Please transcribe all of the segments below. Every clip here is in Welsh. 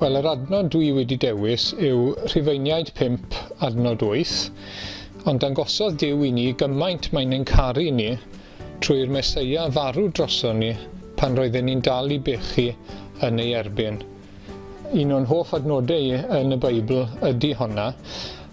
Wel, yr adnod dwi wedi dewis yw Rhufeiniaid 5, adnod 8, ond dangosodd Dyw i ni gymaint mae'n ein caru ni trwy'r Meseia farw droson ni pan roedden ni'n dal i bechu yn ei erbyn. Un o'n hoff adnodau yn y Beibl ydy honna,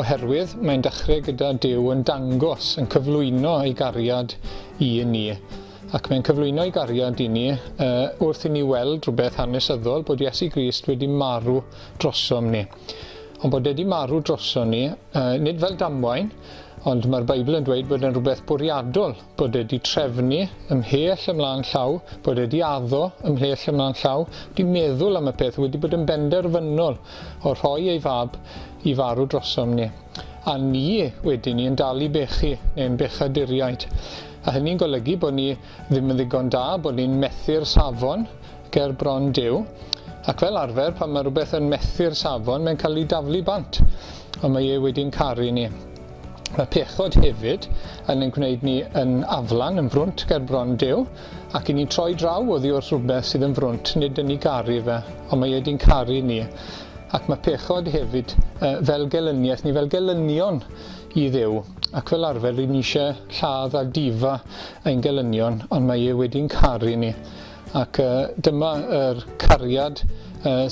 oherwydd mae'n dechrau gyda Duw yn dangos, yn cyflwyno ei gariad i ni. Ac mae'n cyflwyno ei gariad i ni uh, wrth i ni weld rhywbeth hanesyddol bod Iesu Grist wedi marw drosom ni. Ond bod wedi marw drosom ni, uh, nid fel damwain, ond mae'r Beibl yn dweud bod yn rhywbeth bwriadol bod e 'di trefnu ymhell ymlaen llaw, bod e 'di addo ymhell ymlaen llaw, 'di meddwl am y peth, wedi bod yn benderfynol o rhoi ei fab i farw drosom ni. A ni wedi ni yn dal i bechu, neu'n bechaduriaid. A hynny'n golygu bod ni ddim yn ddigon da, bod ni'n methu'r safon ger bron Duw. Ac fel arfer, pan mae rhywbeth yn methu'r safon, mae'n cael ei daflu bant. Ond mae e wedi'n caru ni. Mae pechod hefyd yn ein gwneud ni yn aflan, yn frwnt ger bron Duw, ac i ni'n troi draw oddi wrth rhywbeth sydd yn frwnt, nid yn ni garu fe, ond mae e di'n caru ni. Ac mae pechod hefyd uh, fel gelyniaeth ni, fel gelynion i ddew, ac fel arfer rydyn ni eisiau lladd a difa ein gelynion, ond mae e wedi'n caru ni. Ac dyma yr cariad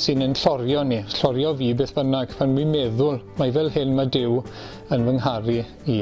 sy'n ein llorio ni, llorio fi beth bynnag, pan fi'n meddwl mai fel hyn mae Duw yn fy ngharu i.